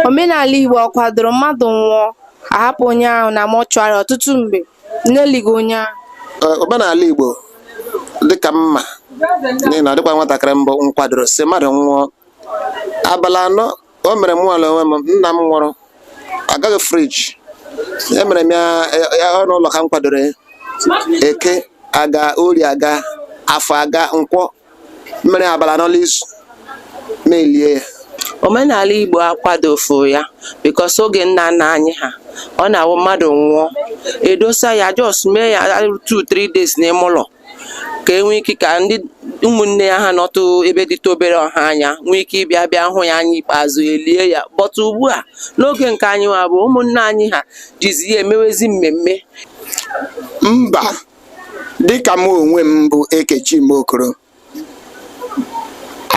omenala Igbo ọ kwadoro mmadụ nwụọ a hapụ onye ahụ na mortuary ọtụtụ mgbe na-elighị onye ahụ Ee, omenala Igbo dịka mma n'ihi na ọ dịkwa nwatakịrị mbụ m kwadoro sị mmadụ nwụọ abalị anọ o mere mụwa la onwe m nna m nwụrụ agaghị friji emere m ya ọnụ ụlọ ka m kwadoro ya eke aga ori aga afọ aga nkwọ mere abalị anọ la izu m elie ya omenala igbo akwadofu ya because oge nna nna anyị ha ọ na-awụ mmadụ nwụọ e dosa ya just mee ya 2 3 days n'ime ụlọ ka e nwee ike ka ndị ụmụnne ya ha nọtụ ebe dịtụ obere ọha anya nwee ike ịbịa bịa hụ ya anya ikpeazụ e lie ya but ugbu a n'oge nke anyị nwa bụ ụmụnne anyị ha jizi ya emewezi mmemme mba dịka m onwe m bụ Ekechi M Okoro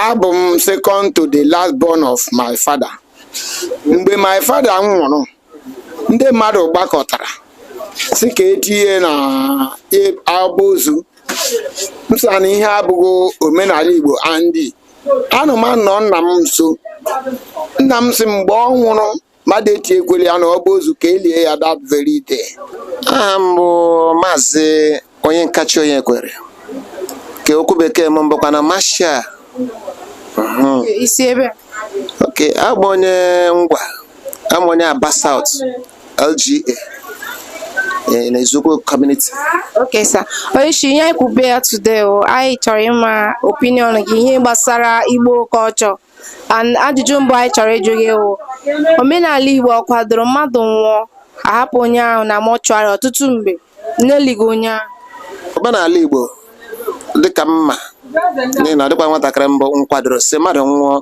abụ m second to the last born of my father mgbe my father nwụrụ ndị mmadụ gbakọtara sị ka e tinye na ọba ozu m sị na ihe abụghị omenala igbo and anọ m nnọọ nna m nso nna m sị mgbe ọ nwụrụ mmadụ etinyekwala ya na ọba ozu ka e lie ya that very day aha m bụ maazị Onyenkachi Onyekwere ka okwu bekee m bụkwa na maazị i si ebee ok abụ m onye Ngwa abụ m onye Aba South lga eh, na Eziukwu community ok sir onye isi ihe anyị kwube ya today o anyị chọrọ ịma opinion gị ihe gbasara igbo culture And ajụjụ mbụ anyị chọrọ ịjụ gị wụ omenala Igbo ọ kwadoro mmadụ nwụọ a hapụ onye ahụ na mortuary ọtụtụ mgbe na-elighị onye ahụ omenala Igbo dịka mma n'ihi na ọ dịkwa nwatakịrị mbụ m kwadoro sị mmadụ nwụọ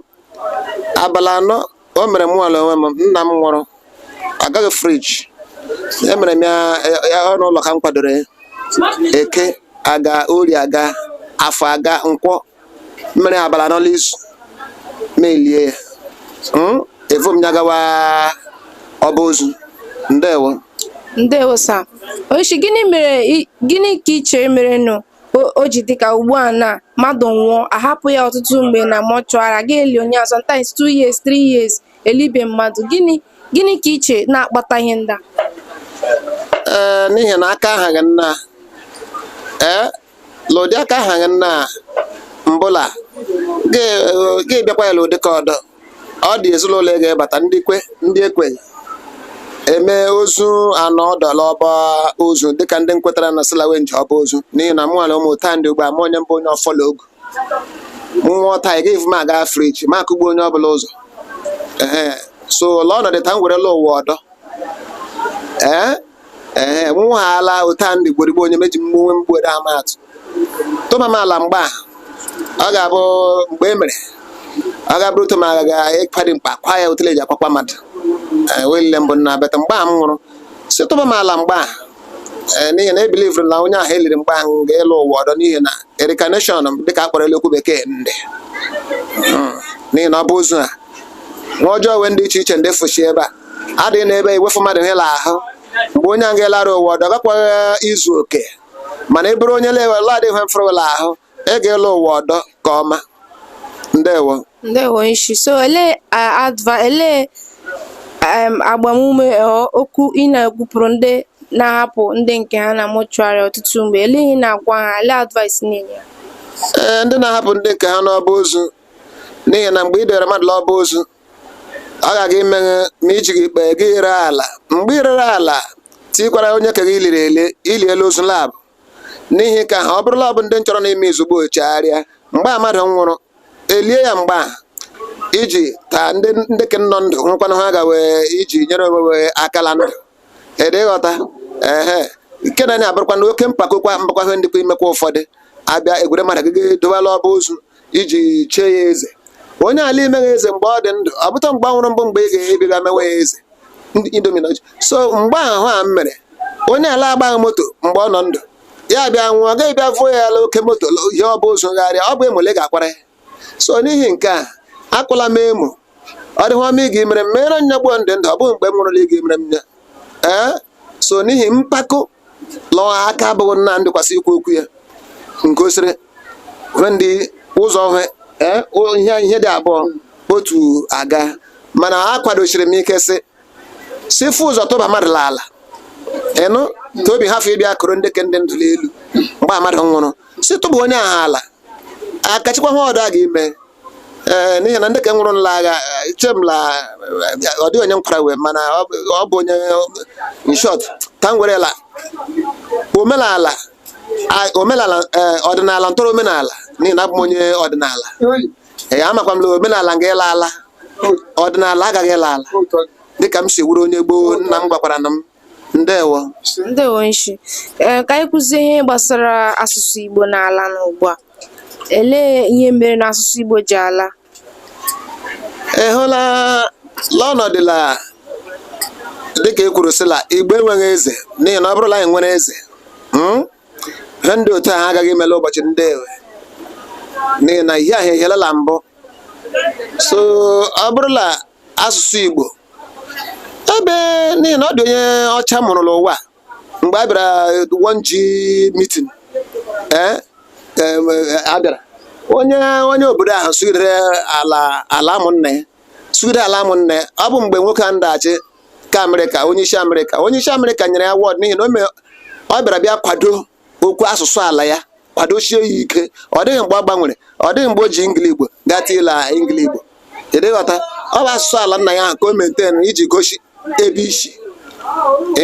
abalị anọ o mere mụwa la onwe m nna m nwụrụ agaghị friji emere m ya ọnụ ụlọ ka m kwadoro ya eke aga ori aga afọ aga nkwọ mere abalị anọ la izu m elie ya Hmm? evu m ya gawa ọba ozu ndewo ndewo sir onyishi gịnị mere i- gịnị ka ị chere mere nụ o- o ji dịka ugbu a na mmadụ nwụọ a hapụ ya ọtụtụ mgbe na mortuary ga eli onye ahụ sometimes two years three years elibe mmadụ gịnị gịnị ka ị chere na-akpata ihe ndị a ee n'ihi na aka ahaghị nha ee lụdị aka ha na mbụla ga-abịakwa ya lụdị aka ọdọ ọ dị ezinụlọ ị ga-ebata ndị kwe ndị ekweghị eme ozu anọ ọdụ la ọba ozu dịka ndị nkwetara na si la we nje ọba ozu n'ihi na mụnwale ụmụ taa ndị ugbu a mụ onye m bụ onye ọfọ la ogu nwụọ taa ị ga-evu m aga friji ma akụgbu onye ọbụla ụzọ ee so la ọnọdụ ta m werela ụwa ọdọ ee ee nwa ha ala ụta ndị gborigbo onye meji mgbe onwe mgbere ama atụ tụba m ala mgbe a ọ ga-abụ mgbe e mere ọ ga-abụrụ ụtọ ma ga ekpari mkpa kwa ya otele ji akwakwa mmadụ ee wee lile mbụ nna bata mgbe a m nwụrụ si tụba m ala mgbe a ee n'ihi na e believere na onye ahụ eliri mgbe ahụ ga ịlọ ụwa ọdọ n'ihi na reincarnation dịka a kpọrọ la okwu bekee ndị Mm. n'ihi na ọ bụ ozu a nwa ọjọọ wee ndị iche iche ndị fụchi ebe a adịghị n'ebe iwefu mmadụ he la ahụ mgbe onye a ga-alọrụ ụwa ọdọ gakwaghị izu oke mana ọ bụrụ onye lewe la adịghị he mfụrụ la ahụ ga ịlọ ụwa ọdọ ka ọma ndewo onye isi so ele adva ele agbamume okwu ị na-ekwupụrụ ndị na-ahapụ ndị nke ha na mortuary ọtụtụ mgbe ele ihe ị na-agwa ha ele advice ị na-enye ee ndị na-ahapụ ndị nke ha n'ọba ozu n'ihi na mgbe i dowere mmadụ n'ọba ozu ọ ga-aga ime he ma i jighị ikpeghe i ree ala mgbe i rere ala tikwara onye ke gị liri ele ili elu ozu lab n'ihi ka ha ọ bụrụla ọ bụ ndị nchọrọ na-eme izugbo chegharịa mgbe a mmadụ nwụrụ elie ya mgbe a iji ka ndị ndị ke nọ ndụ nwekwanụ he aga we iji nyere onwe we aka la ndụ ị dị ịghọta ehe nke a na-abụrụkwa na oke mpako makwa ihe ndịkwa imekwa ụfọdụ abịa ewere mmadụ ga edowa la ọba ozu iji chie ya eze onye ala emeghị eze mgbe ọ dị ndụ ọ bụta mgbe ọ nwụrụ bụ mgbe ị ga-ebiga mewe ya eze indominoji so mgbe ahụ a m mere onye ala agbaghị moto mgbe ọ nọ ndụ ya bịa nwụọ a ga-abịa vuo ya la oke moto ihe ọ bụ ụzọ gharịa ọ bụ emole ga-akwara ya so n'ihi nke a akụla m emo ọ dịghị ọma ịga imere m meere m ya gbuo m dị ndụ ọ bụghị mgbe m nwụrụ la ịga imere m ya ee so n'ihi mpako la aka abụghị nna ndịkwasị ikwu okwu ya nke o siri hwe ndị ụzọ hwe ee o- ihe ihe dị abụọ otu aga mana akwadosiri m ike sị si vu ụzọ tụba mmadụ n'ala ịnụ tobi hafụ ịbịa kụrụ ndị ke dị ndụ n'elu mgbe mmadụ nwụrụ si tụba onye ahụ ala akachikwa he ọdọ a ga-ime ee eh, n'ihi na ndị ke nwụrụ la agha eh, eche m la eh, ọ dịghị onye nkwara we mana ọ bụ onye in short ta m werela omenala omenala ọdịnala ntọrọ omenala n'ihi na abụ m onye ọdịnala ee amakwa m na omenala nga ịla ala ọdịnala agaghị ịla ala dịka m si wuru onye gboo nna m gwakwara na m ndewo ndewo ị sị ee ka anyị kwuzie ihe gbasara asụsụ Igbo na-ala n'ugbu a elee ihe mere na asụsụ Igbo ji ala ị hụla n'ọnọdụ la dịka e kwuru sịla Igbo enweghị eze n'ihi na ọ bụrụla anyị nwere eze hmm? ihe ndị otu ahụ agaghị ime la ụbọchị ndị ewe n'ihi na ihe ahụ ehielala mbụ so ọ bụrụla asụsụ Igbo ebe n'ihi na ọ dị onye ọcha m hụrụ n'ụwa mgbe a bịara one g meeting ee em, eh, a bịara onye onye obodo ahụ sụgidere ala ala ụmụnne ya sụgide ala ụmụnne ya ọ bụ mgbe nwoke a ndaghachi ka amerịka onye isi amerịka onye isi amerịka nyere ya award n'ihi na o me- ọ bịara bịa kwado okwu asụsụ ala ya kwadoshie ya ike ọ dịghị mgbe ọ gbanwere ọ dịghị mgbe o ji ngili igbo gata ịla ngili igbo ịdịghọta ọ bụ asụsụ ala nna ya ahụ ka o maintain iji gosi ebe o si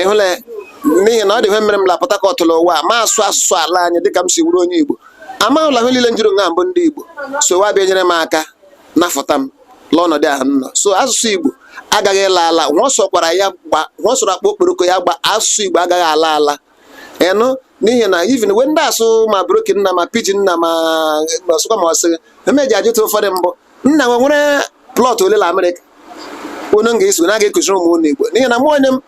ịhụla n'ihi na ọ dị ihe mere m la Port Harcourt n'ụwa ma asụ asụsụ ala anyị dịka m si wụrụ onye igbo amahụla ihe niile njiri nga mbụ ndị igbo so wa bịa nyere m aka nafụta m n'ọnọdụ ahụ m nọ so asụsụ igbo agaghị ala ala nwa sọkwara ya gba nwa sọrọ akpa okporoko ya gba asụsụ igbo agaghị ala ala ịnụ n'ihi na even when ndị asụ ma broken nna ma pidgin nna ma ọsụkwa ma ọsị emeji ajụta ụfọdụ mbụ nna nwe nwere plọt ole na amerịka unu ga-eso na ga-ekụziri ụmụ unu igbo n'ihi na mụ onwe m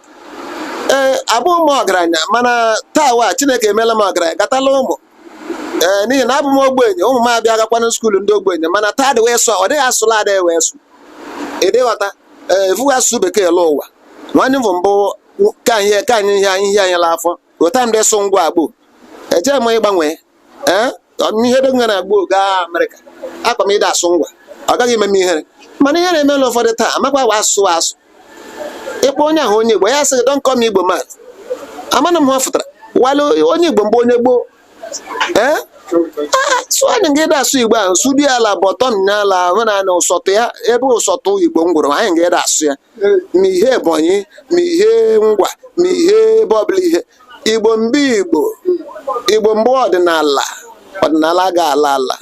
ee abụghị m ọgaranya mana taa wa chineke emeela m ọgaranya gatala ụmụ ee n'ihi na abụ m ogbenye ụmụ m abịa agakwana skuulu ndị ogbenye mana taa dị wee sọ ọ dịghị asụla adịghị wee sụ ịdịghọta ee evughị asụsụ bekee lọ ụwa nwanne m bụ mbụ ka ihe ka anyị ihe ihe anyị la afọ ghọta ndị sụ ngwa gboo eje m ịgbanwe ee ihe dị na gboo gaa amerịka aga m ịda asụ ngwa ọ gaghị eme m ihere mana ihe na-eme na ụfọdụ taa amakwa wa asụ asụ ịkpọ onye ahụ onye igbo ya sị gị don come igbo man amana m ha fụtara wale onye igbo mgbe onye gboo so anyị nga ịda asụ igbo ahụ sụdi ala bottom n'ala ahụ na na ụsọtụ ya ebe ụsọtụ igbo ngwụrụ anyị nga ịda asụ ya ma ihe ebonyi ma ihe ngwa ma ihe ebe ọbụla ihe igbo mgbe igbo igbo mgbe ọdịnala ọdịnala ga-ala ala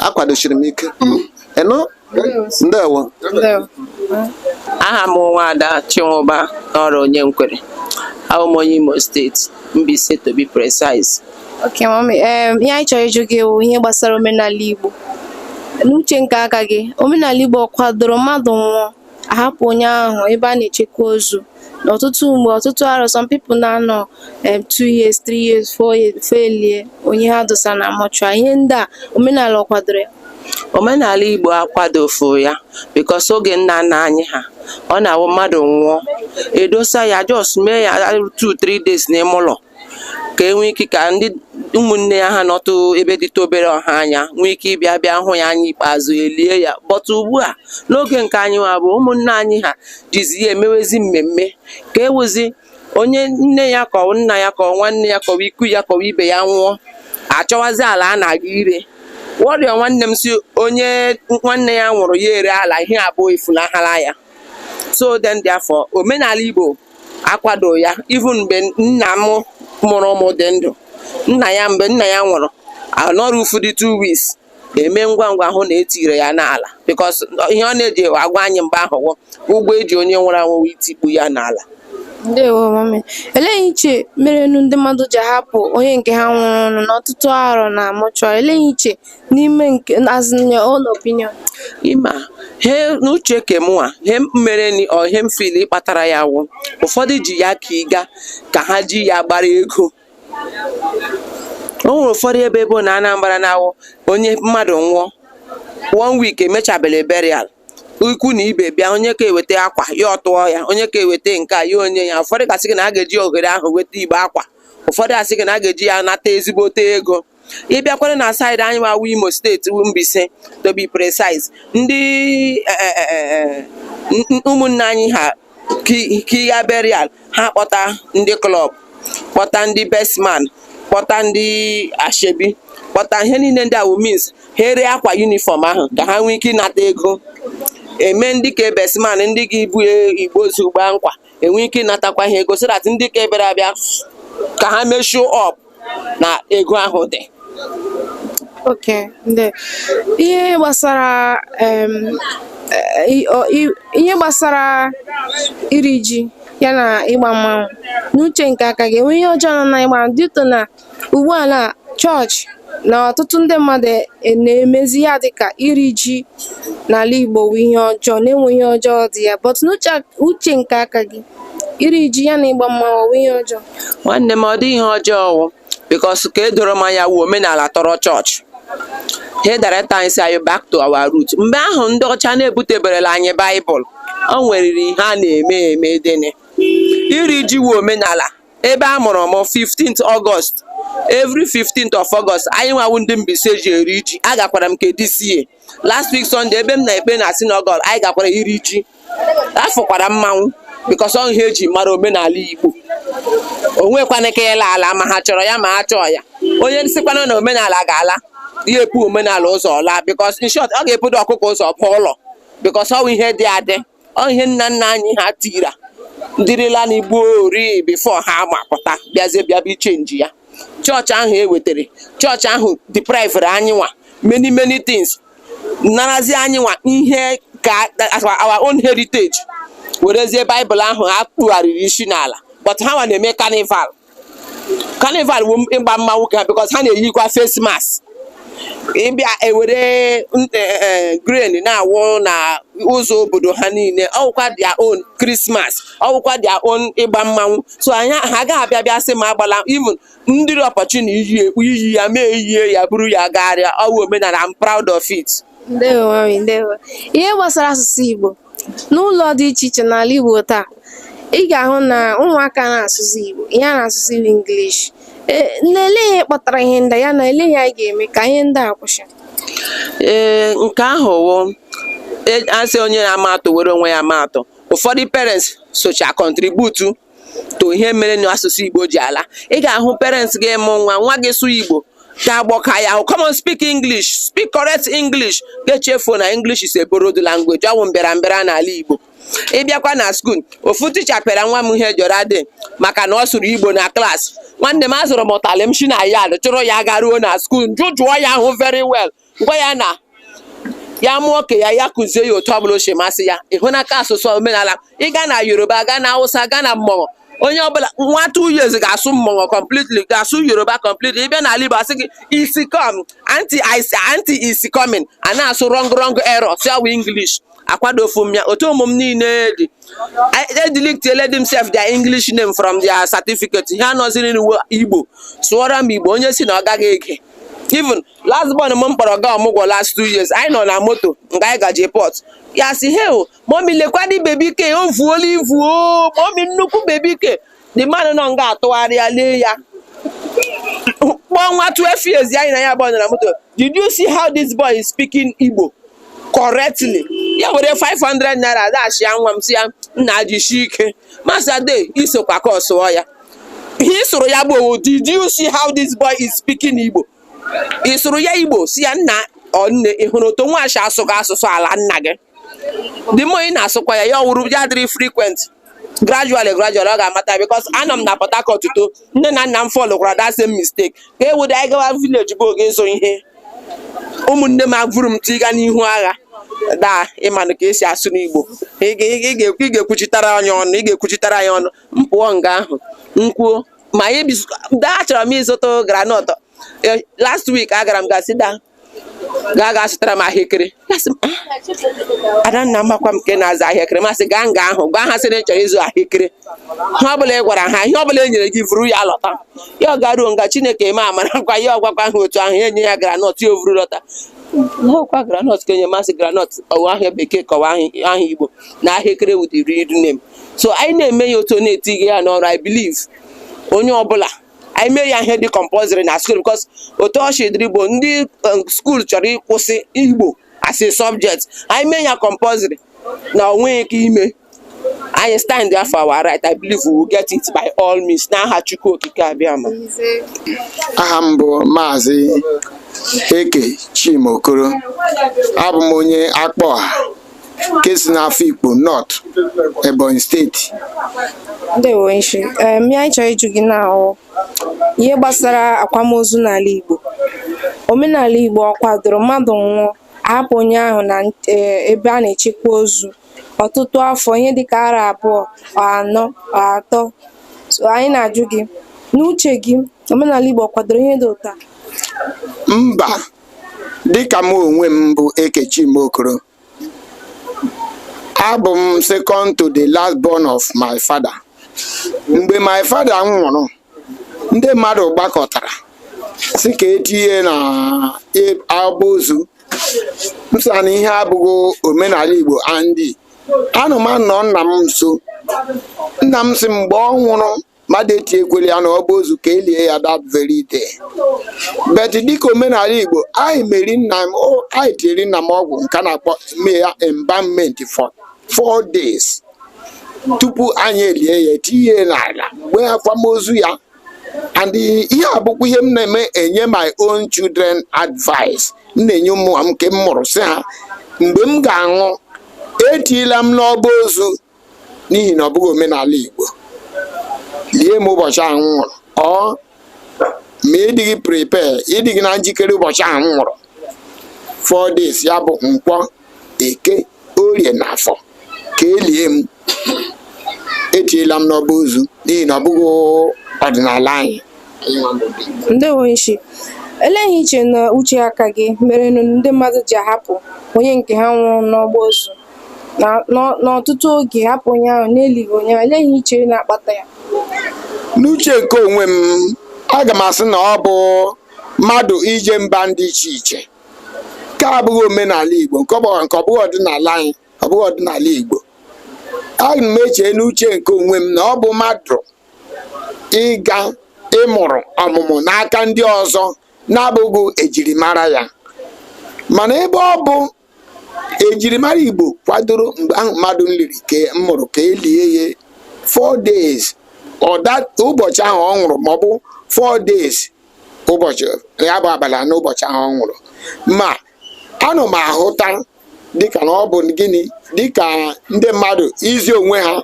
akwadoshiri m ike ịnụ ndewo aha m nwaada chinwụba n'ọrụ Onyenkwere abụ m onye imo steeti Mbaise to be precise ok mami ihe anyị chọrọ ịjụ gị wụ ihe gbasara omenala igbo n'uche nke aka gị omenala igbo ọ kwadoro mmadụ nwụọ ahapụ onye ahụ ebe a na-echekwa ozu ọtụtụ mgbe ọtụtụ arọ some people na-anọ em, two years three years four years before elie onye ha dosa na mọchụarị ihe ndị a omenala ọ kwadoro ya omenala igbo akwadofu ya bikos oge nna nna anyị ha ọ na-awụ mmadụ nwụọ edosa ya jos mee ya 2 3 days n'ime ụlọ ka e nwee ike ka ndị ụmụnne ya ha nọtụ ebe dịtụ obere ọha anya nwee ike ịbịa bịa hụ ya anya ikpeazụ elie ya but ugbu a n'oge nke anyị nwa bụ ụmụnne anyị ha jizi ya emewezi mmemme ka ewuzi onye nne ya ka ọ nna ya ka ọ nwanne ya ka ọ ikwu ya ka ọ ibe ya nwụọ achọwazi ala a na-aga ire wọrịọ nwanne m si onye nwanne ya nwụrụ ya ere ala ihe abụọ efunahara ya so then therefore omenala Igbo akwado ya even mgbe nna m mụrụ mụ dị ndụ nna ya mgbe nna ya nwụrụ anọrufudị two weeks eme ngwa ngwa hụ na etire ya n'ala because ihe ọ na-eji agwa anyị mgbe ahụ wụ ụgwọ eji onye nwụrụ anwụ itikpu ya n'ala ndewo mami elee ihe i che mere ndị mmadụ ji ahapụ onye nke ha nwụrụ n'ọtụtụ arọ na mọchụarị elee ihe i che n'ime nke as in your own opinion ịma he n'uche ke mụnwa he mere ni or ihe m fili kpatara ya wụ ụfọdụ ji ya ka ịga ka ha ji ya gbara ego o nwere ụfọdụ ebe ebe na Anambra na-awụ onye mmadụ nwụọ one week emechabele burial ikwu na ibe bịa onye ka eweta akwa ya tụọ ya onye ka eweta nke a ya onye ya ụfọdụ ga-asị gị na a ga-eji ohere ahụ weta igbe akwa ụfọdụ asị gị na a ga-eji ya nata ezigbote ego ị bịakwara na saịdị anyị nwa wụ imo steeti wu Mbaise to be precise ndị eh, eh, eh, n- ụmụnne anyị ha ki- kiya burial ha kpọta ndị klọb kpọta ndị bestman kpọta ndị ashebi kpọta ihe niile ndị a wụ means ha ere akwa yunifọm ahụ ka ha nwee ike ịnata ego eme ndị ka bestman ndị ga ibu igbe ozu gbaa nkwa enwe ike ịnatakwa ha ego so that ndị ka ebere abịa ka ha measure up na ego ahụ dị Okay, ndị ihe gbasara em, eh, i- o- i- ihe gbasara iri ji ya na ịgba mmanwụ n'uche nke aka gị enwe ihe ọjọọ nọ na ịgba due to na ugbu a na chọọchị na ọtụtụ ndị mmadụ e- na-emezi ya dịka iri ji n'ala Igbo wụ ihe ọjọọ na-enwe ihe ọjọọ dị ya but n'uche uche nke aka gị iri ji ya na ịgba mmanwụ ọ wụ ihe ọjọọ nwanne m ọ dị ihe ọjọọ ọ wụ bikos ke doro m anya wụ omenala tọrọ chọọchị he director anyị si anyị back to our root mgbe ahụ ndị ọcha na-ebuteberela anyị baịbụl o nweriri ihe a na-eme eme then iri ji wụ omenala ebe a mụrụ m 15th August every 15th of August anyị nwa wụ ndị Mbaise ji eri ji agakwara m kedisiye last week sọnde ebe m na-ekpe na sinagọg anyị gakwara iri ji afọkwara mmanwụ bikos ọwụ ihe eji mara omenala igbo onwekwana ike ịla ala ma ha chọrọ ya ma ha achọọ ya onye sikwanụ na omenala ga-ala ya ebu omenala ụzọ ala bikos in short ọ ga-ebudo ọkụkọ ụzọ pụọ ụlọ bikos ọwụ ihe dị adị ọ ihe nna nna anyị ha tira dịrịla na gboo ri bifo ha agbapụta bịazie bịabe ichenji ya chọọchị ahụ e wetara chọọchị ahụ deprivere anyị nwa many many things narazi anyị nwa ihe ka as our own heritage werezie baịbụl ahụ ha kpugharịrị isi n'ala but ha nwa na-eme carnival carnival wụ ịgba mmanwụ ke ha because ha na-eyikwa face mask bịa ewere n- eh, eh, grain na-awụ na ụzọ obodo ha niile ọwụkwa their own Christmas ọwụkwa their own ịgba mmanwụ so anyị ha agaghị abịa bịa sị m agbala even m dịrị opportune iyi ya mụ eyie ya buru ya gagharịa ọwụ omenala I'm proud of it ndewo mami ndewo ihe gbasara asụsụ igbo N'ụlọ dị iche iche n'ala Igbo taa, ị ga-ahụ na ụmụaka anaghị asụzi Igbo, ihe a na-asụzi bụ English. Ee, nne ele ihe kpatara ihe ndị a, ya na ele ihe anyị ga-eme ka ihe ndị a kwụsị. ee nke ahụ wụ e- asị onye na-ama atụ were onwe ya maa atụ ụfọdụ parents socha contribute to ihe mere na asụsụ Igbo ji ala ị ga-ahụ parents gị mụọ nwa nwa gị sụọ Igbo gị agbọka ya ahụ come on speak English speak correct English gị echefuo na English is a borrowed language ọwụ mbịara mbịara n'ala Igbo ịbịakwa na skuul ofu ticha pịara nwa m ihe the other day maka na ọ sụrụ Igbo na klaasị nwanne m azụrụ m ụtalị m shi na yard chọrọ ya garuo na skuul jụjụọ ya ahụ very well gwa ya na ya mụọ ke ya ya kụzie ya otu ọbụla o si masị ya ịhụ n'aka asụsụ omenala ịga na yoruba gaa na awụsa gaa na mmọṅọ onye ọbụla nwa two years ga-asụ mmọṅọ completely ga-asụ yoruba completely ịbịa n'ala igbo asị gị is com anti anti is coming a na-asụ rọng rọng error si ọwụ english akwadofu m ya otu ụmụ m niile dị edilitieledị m sef their english name from their certificate ha nọziri n'uwe igbo sụọrọ m igbo onye si na ọ gaghị ege even last born m m kpọrọ gaa ọmụgwọ last two years anyị nọ na moto nga anyị gaje pọt ya si he o mọmi lekwadị bebi ke o vuola ivu o mọmi nnukwu bebi ke the man nọ nga atụgharịa lee ya kpọọ nwa 12 years anyị na ya nọ na moto did you see how this boy is speaking Igbo correctly ya were 500 naira dash ya nwa m si ya nna jishi ike masade isokwa ka ọ sụọ ya ihe ị sụrụ ya bụ did you see how this boy is speaking Igbo ị sụrụ ya Igbo sị ya nna ọ nne ị hụrụ otu nwa a si asụ gị asụsụ ala nna gị dị mma ị na-asụkwa ya ya ọ wụrụ ya dịrị frequent gradually gradually ọ ga-amata because anọ m na Port Harcourt too nne na nna m followkwara that same mistake ka e weda anyị gawa village bụ oge ịzụ ihe ụmụnne m evuru m tiga n'ihu agha daa ị manụ ka esi asụ n'Igbo ị ga-ekwuchitara anyị ọnụ ị ga-ekwuchitara anyị ọnụ m pụọ nga ahụ m kwuo ma anyị bis- daa achọrọ m ịzụta groundnut Eh, last week agara m ga sị daa gaa gaa zụtara m ahịekere Ya sị m, "Ah, adanna amakwa m nke na-azụ ahịekere mụ asị gaa nga ahụ gwa ha sị na ị chọrọ ịzụ ahịekere ihe ọbụla ị gwara ha ihe ọbụla e nyere gị vuru ya lọta ya agaruo nga chineke emee amara gwa ya agwakwa ha otu ahụ ha enye ya groundnut ya evuru lọta ọkwa groundnut ka enye m sị groundnut ọ wụ aha bekee ka ọ wụ aha igbo na ahịekere wudiri idu nne m so anyị na-eme ya otu na-etinye ya n'ọrụ i believe onye ọbụla anyị mee ya ihe dị compulsory na school because otu o si dịrị ugbu a ndị um, school chọrọ ịkwụsị igbo as a subject anyị mee ya compulsory na ọ nweghị ike ime anyị standịa for our right i believe we will get it by all means n'aha chukwu okike abịama aha m bụ maazị eke chima okoro abụ m onye Akpọha nke si n'Afikpo North Ebonyi steeti ndewo sir eem anyị chọrọ ịjụ gị na ọ wụ ihe gbasara akwamozu n'ala Igbo omenala Igbo ọ kwadoro mmadụ nwụọ ahapụ onye ahụ na eh, ebe a na-echekwa ozu ọtụtụ afọ ihe dịka arọ abụọ or anọ or atọ so anyị na-ajụ gị n'uche gị omenala Igbo ọ kwadoro ihe dị otu a mba dịka m onwe m bụ Eke Chima Okoro abụ m second to the last born of my father mgbe my father nwụrụ ndị mmadụ gbakọtara sị ka etinye ya n'ọba ozu m sị na ihe a abụghị omenala Igbo and ana m anọ nna m nso nna m sị mgbe ọ nwụrụ mmadụ etiekwela ya n'ọba ozu ka elie ya that very day but dịka omenala igbo anyị meri nna m o- anyị tiri nna m ọgwụ nke a na-akpọ ime ya embalmment for four days tupu anyị elie ya tinye ya n'ala gbaa akwamozu ya and ihe a bụkwa ihe m na-eme enye my own children advice m na-enye ụmụ m nke m mụrụ sị ha mgbe m ga-anwụ etila m n'ọba ozu n'ihi na ọ bụghị omenala igbo lie m ụbọchị ahụ m nwụrụ or ma ịdịghị prepare ịdịghị na njikere ụbọchị ahụ m nwụrụ four days ya bụ nkwọ eke orie na afọ ka elie m etiela m n'ọba ozu n'ihi na ọ bụghị ọdịnala anyị anyị nwa bụ ndị Igbo. ndewo nshi olee ihe i che na uche aka gị mere na ndị mmadụ ji ahapụ onye nke ha nwụrụ n'ọgba ozu na n'ọ- n'ọtụtụ oge hapụ onye ahụ n'elighị onye ahụ elee ihe i chere na-akpata ya n'uche nke onwe m aga m asị na ọ bụ mmadụ ije mba dị iche iche nke a abụghị omenala igbo nke ọ bụghị nke ọ bụghị ọdịnala anyị ọ bụghị ọdịnala igbo aga m eche n'uche nke onwe m na ọ bụ mmadụ ịga ịmụrụ ọmụmụ n'aka ndị ọzọ na-abụghị ejirimara ya mana ebe ọ bụ ejirimara igbo kwadoro mgbe ahụ mmadụ nliri ka m nwụrụ ka elie ya four days or that ụbọchị ahụ ọ nwụrụ maọbụ four days ụbọchị ya bụ abalị anọ ụbọchị ahụ ọ nwụrụ ma anọ m ahụta dịka na ọ bụ gịnị dịka ndị mmadụ izi onwe ha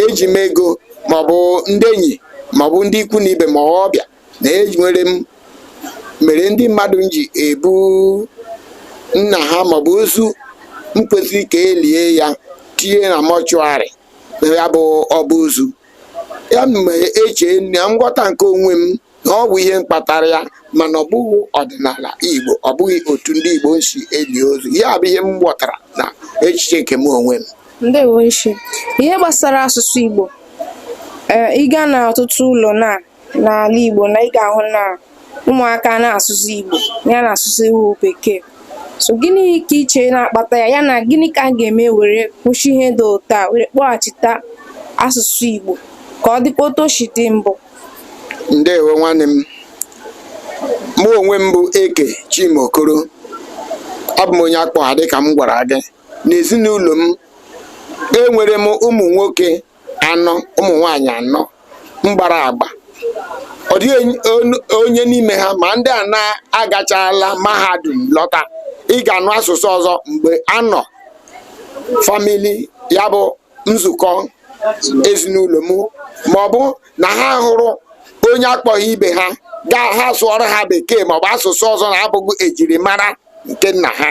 eji m ego maọbụ ndị enyi maọbụ ndị ikwu na ibe ma ọbịa na enwere m mere ndị mmadụ ji ebu nna ha maọbụ ozu nkwesịrị ka elie ya tinye na mortuary na ya bụ ọba ozu ya m eche na nghọta nke onwe m na ọ bụ ihe mkpatara ya mana ọ bụghị ọdịnala igbo ọ bụghị otu ndị igbo si eli ozu ya bụ ihe m ghọtara na echiche nke m onwe m ndewo nshi ihe gbasara asụsụ Igbo ee eh, ịga na ọtụtụ ụlọ na n'ala Igbo na ị ga-ahụ na ụmụaka na-asụsụ Igbo ya na-asụsụ iwu bekee so gịnị ka i che na-akpata ya ya na gịnị ka a ga-eme were kwụsị ihe dị otu a were kpọghachita asụsụ Igbo ka ọ dịkwa otu o si dị mbụ ndewo nwanne m mụ onwe m bụ eke chima okoro abụ m onye akpọha dịka m gwara gị n'ezinụlọ m enwere m ụmụ nwoke anọ ụmụ nwaanyị anọ mgbara agba ọ dịghị onye n'ime ha ma ndị a na-agachala mahadum lọta ị ga-anụ asụsụ ọzọ mgbe anọ family ya bụ nzukọ ezinụlọ m ma ọ bụ na ha hụrụ onye akpọha ibe ha gaa ha sụọrọ ha bekee maọbụ asụsụ ọzọ na-abụghị ejirimara nke nna ha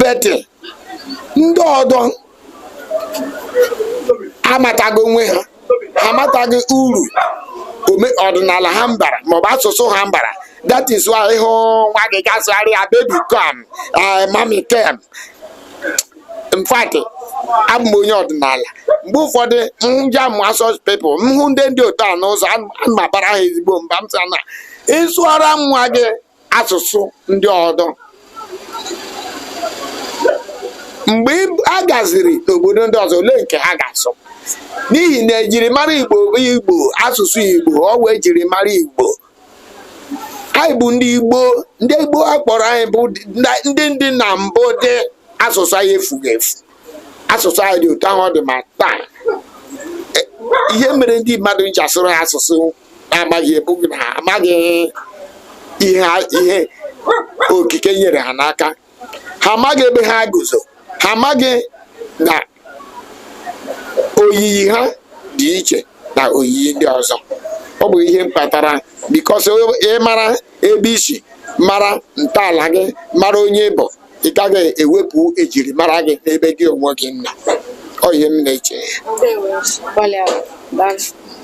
but ndị ọdọ amataghị onwe ha amataghị uru ọdịnala ha mbara maọbụ asụsụ ha mbara that is why ị hụ nwa gị ga-asụgharị ya baby come eh, mummy come in fact abụ m onye ọdịnala mgbe ụfọdụ nja m hụ such people m hụ ndị dị otu a n'ụzọ ana m abara ha ezigbo mba m sị na ị sụara nwa gị asụsụ ndị ọdọ mgbe a gaziri n'obodo ndị ọzọ olee nke ha ga-asụ n'ihi na ejirimara igbo igbo asụsụ igbo ọ wụ ejirimara igbo anyị bụ ndị igbo ndị igbo a kpọrọ anyị bụ ndị dị na mbụ dị asụsụ anyị efughị efu asụsụ anyị dị otu ahụ ọ dị ma taa e, ihe mere ndị mmadụ ji asụrụ ha asụsụ amaghị ọ bụghị na ha amaghị ihe okike nyere ha n'aka ha amaghị ebe ha guzo ha amaghị na oyiyi ha dị iche na oyiyi ndị ọzọ ọ bụ ihe mkpatara because ị mara ebe i si mara ntọala gị mara onye ị bụ ị gaghị ewepụ ejirimara gị n'ebe gị onwe gị nọ ọ ihe m na-eche Ndewo, gbalịa. Daalụ.